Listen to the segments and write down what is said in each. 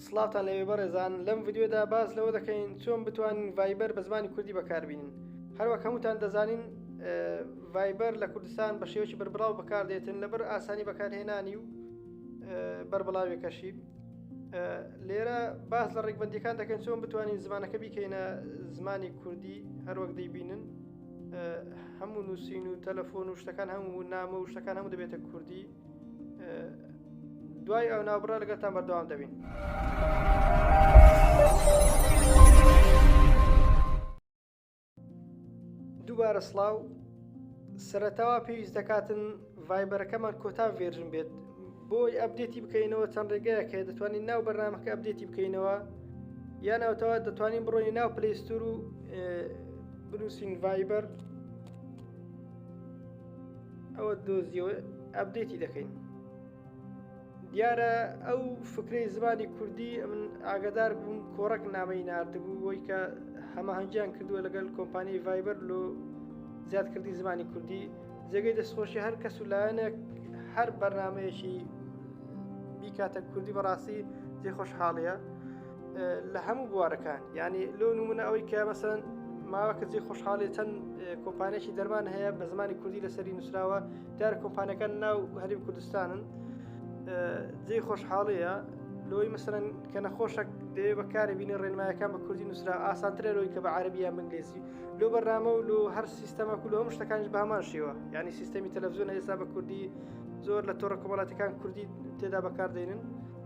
سڵاوتان لەوێ بەڕێزان لەم ڤیدیۆدا باس لەوە دەکەین چۆن بتوانین ڤایبەر بە زمانی کوردی بەکاربینین هەروەک هەمووتان دەزانین ڤایبەر لە کوردستان بە شێوەی بەربڵاو بەکاردێتن لەبەر ئاسانی بەکارهێنانی و بەربڵاوێکەشی لێرە باس لە ڕێکبندەکان دەکەن چۆن بتوانین زمانەکە بیکەینە زمانی کوردی هەروەک دەیبینن هەموو نووسین و تەلەفۆن و شتەکان هەموو نامە و شتەکان هەموو دەبێتە کوردی دوای ئەو ناوبڕە لەگەتان بەردەوام دەبین. دووبارە سلااو سەرەتاوا پێویست دەکاتن ڤایبەرەکەمان کۆتا ڤێرژن بێت بۆی ئەبدێتی بکەینەوە چەند ڕێگەیە کە دەتوانین ناو بەرنمەکە ئەبدێتی بکەینەوە یان ئەوتەوە دەتوانین بڕۆی ناو پلیستور و بنووسین ڤایبەر ئەوە دۆزیەوە ئەبدێتی دەکەین دیارە ئەو فکرەی زمانی کوردی من ئاگدار بووم کۆڕک نامەی نردبوو بۆی کە هەماهنگیان کردووە لەگەڵ کۆمپانیای ڤایبەر لۆ زیادکردی زمانی کوردی جێگەی دەستخۆشی هەر کەس و لایەنێک هەر بەرنمەیەکی بیکاتە کوردی بەڕاستی جێ خۆشحاڵەیە لە هەموو بوارەکان یعنی لۆ نمونە ئەوەی کە مەسەن ماوە کەسی خۆشحاڵی چەند کۆمپانێکی دەرمان هەیە بە زمانی کوردی لەسەری نووسراوە دار کۆمپانەکان ناو هەریم کوردستانن جێ خۆشحاڵەیە لۆی مەسەرەن کە نەخۆشە دەوێ بەکارە بینە ڕێنمایەکان بە کوردی نووسرا ئاسانترە لۆی کە بە عربیان بنگلێسی لۆ بەرنامە و لۆ هەر سیستەمە و لۆ هەم شتەکانش بامان شێوە ینی سیستەمی تەلەڤزیۆن ئێستا بە کوردی زۆر لە تۆڕە کۆمەڵاتەکان کوردی تێدا بەکاردێنن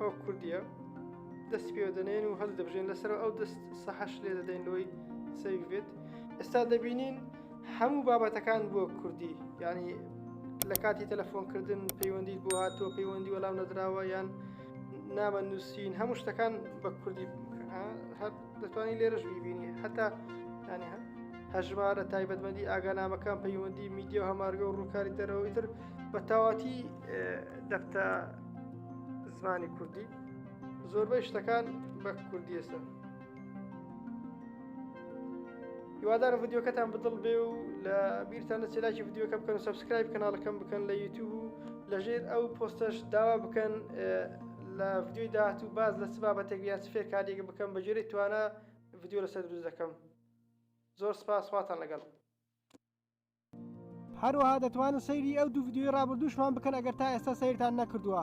ئەو کوردیە دەست پێ دەنێن و هەست دەبژێن لەسەر ئەو دەست سەحش لێ دەدەین لۆی سەویێت ئێستا دەبینین هەموو بابەتەکان بۆ کوردی ینی لە کاتی تەلەفۆنکردن پەیوەندی بۆ هاتۆ پەیوەندی وەڵام نەدراوە یان نامە نووسین هەموو شتەکان بە کوردی هەر دەتوانین لێرەش بیبینی هەتا ینی هەژمارە تایبەتمەندی ئاگانامەکان پەیوەندی میدیە و هەمارگە و ڕووکاری دەرەوەی تر بە تاواتی دەفتە زمانی کوردی زۆربەی شتەکان بە کوردیەسە هیوادار ڤیددیوکەتان بدڵ بێ و لە بیرتان نەچێلاکی ڤیددیوکە بکەن سبسکرایب کەناڵەکەم بکەن لە یوتیوب و لەژێر ئەو پۆستەش داوا بکەن لە ڤیدیۆی داهاتوو باز لە چ بابەتێک یا چ فێرکاریەک بکەم بە گوێرەی توانا ڤیدیۆ لەسەر دروست دەکەم زۆر سپاس خواتان لەگەڵ هەروەها دەتوانن سەیری ئەو دوو ڤیدیۆی ڕابردووشمان بکەن ئەگەر تا ئێستا سەیرتان نەکردووە